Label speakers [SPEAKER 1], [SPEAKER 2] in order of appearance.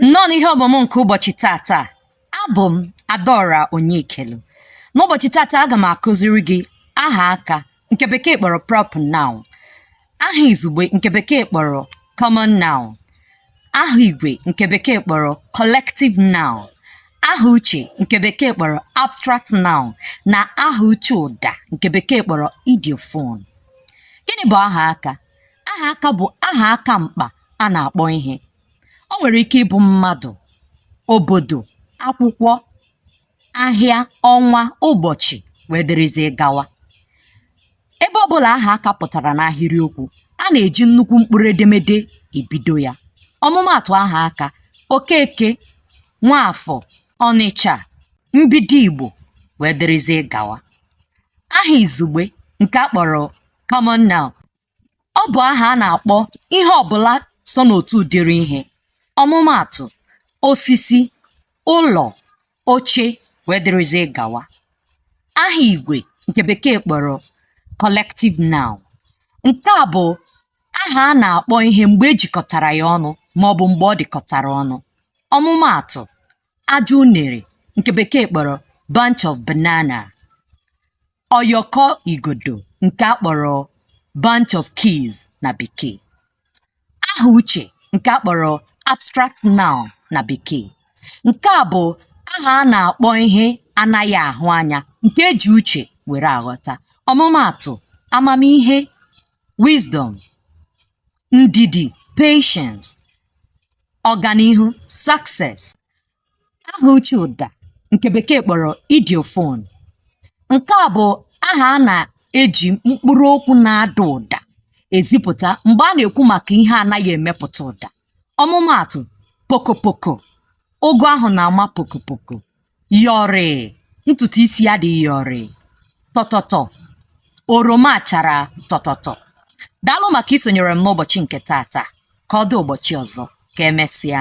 [SPEAKER 1] nnọọ n'ihe ọmụmụ nke ụbọchị tata abụ m adaora onyekelu n'ụbọchị tata aga m akụziri gị aha aka nke bekee kpọrọ proper noun aha izugbe nke bekee kpọrọ common noun aha igwe nke bekee kpọrọ collective noun aha uche nke bekee kpọrọ abstract noun na aha uche ụda nke bekee kpọrọ ideophone gịnị bụ aha aka aha aka bụ aha aka mkpa a na-akpọ ihe o nwere ike ịbụ mmadụ obodo akwụkwọ ahịa ọnwa ụbọchị wee dịrịzie gawa ebe ọbụla aha aka pụtara n'ahịrịokwu a na-eji nnukwu mkpụrụ edemede ebido ya ọmụmaatụ aha aka okeke nwaafọ ọnịcha mbido igbo wee dịrịzie gawa aha izugbe nke a kpọrọ common noun ọ bụ aha a na-akpọ ihe ọbụla so n'otu ụdịrị ihe ọmụmaatụ osisi ụlọ oche wee dịrịzie gawa aha igwe nke bekee kpọrọ collective noun nke a bụ aha a na-akpọ ihe mgbe e jikọtara ya ọnụ ma ọ bụ mgbe ọ dịkọtara ọnụ ọmụmaatụ ajụ unere nke bekee kpọrọ bunch of banana ọyọkọ igodo nke a kpọrọ bunch of keys na bekee aha uche nke a kpọrọ abstract noun na bekee nke a bụ aha a na-akpọ ihe a naghị ahụ anya nke e ji uche were aghọta ọmụmaatụ amamihe wisdom ndidi patience ọganihu success aha uche ụda nke bekee kpọrọ ideophone nke a bụ aha a na-eji mkpụrụ okwu na-ada ụda ezipụta mgbe a na-ekwu maka ihe anaghị emepụta ụda ọmụmaatụ pokopoko ụgụ ahụ na-ama pokopoko yọrịị ntutu isi ya dị yọrịị tọtọtọ oroma chara tọtọtọ daalụ maka isonyere m n'ụbọchị nke tata ka ọ dị ụbọchị ọzọ ka emesịa